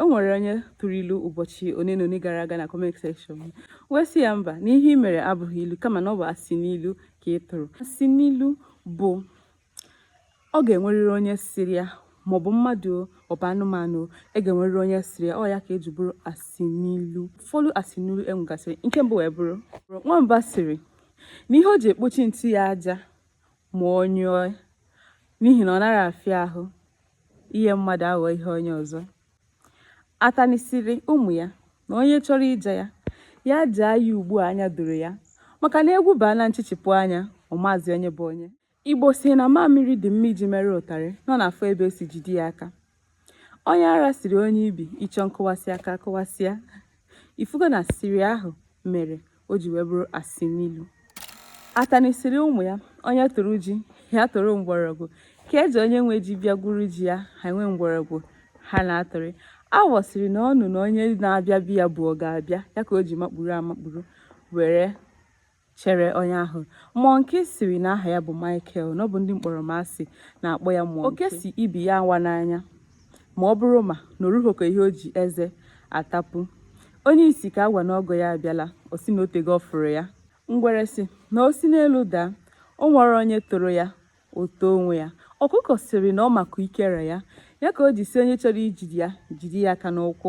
o nwere onye tụrụ ilu ụbọchị one na one gara aga na comment section m wee sị ya mba na ihe ị mere abụghị ilu kama na ọ bụ asị n'ilu ka ị tụrụ asị n'ilu bụ ọ ga-enwerịrị onye sịrị ya maọbụ mmadụ ọ bụ anụmanụ e ga-enwerịrị onye sịrị ya ọ ya ka e ji bụrụ asị n'ilu ụfọdụ asị n'ilu e nwegasịrị nke mbụ wee bụrụ nwamba sịrị na ihe o ji ekpochi nsị ya aja ma ọ nyụọ n'ihi na ọ naghị afịa ahụ ihe mmadụ aghọ ihe onye ọzọ atanị sịrị ụmụ ya na onye chọrọ ịja ya ya jaa ya ugbu a anya doro ya maka na egwu baa na nchichipụ anya ọ mazi onye bụ onye Igbo sị na mamịrị dị mma iji mere ụtarị na ọ na-afọ ebe o si jide ya aka onye ara sịrị onye ibi ị chọọ nkụwasị aka a kụwasịa ị fụgo na sịrị ahụ mere o ji wee bụrụ asị n'ilu atanị sịrị ụmụ ya onye tụrụ ji ya tụrụ mgbọrọgwụ ka eji onye nwe ji bịa gwuru ji ya ha enwee mgbọrọgwụ ha na-atụrị awọ sịrị na ọ nụ na onye na-abịa be ya bụ ọ ga-abịa ya ka o ji makpuru amakpuru were chere onye ahụ monkey sịrị na aha ya bụ Michael na ọ bụ ndị mkpọrọmasị na-akpọ ya monkey oke sị ibi ya awana anya ma ọ bụrụ ma na o rughị ka ihe o ji eze atapu onye isi ka a gwa na ọgọ ya abịala ọ sị na o tego ọ fụrụ ya ngwere sị na o si n'elu daa o nwerọ onye toro ya o too onwe ya ọkụkọ sịrị na ọ maka ikere ya ya ka o ji sị onye chọrọ ijide ya jide ya aka n'ụkwụ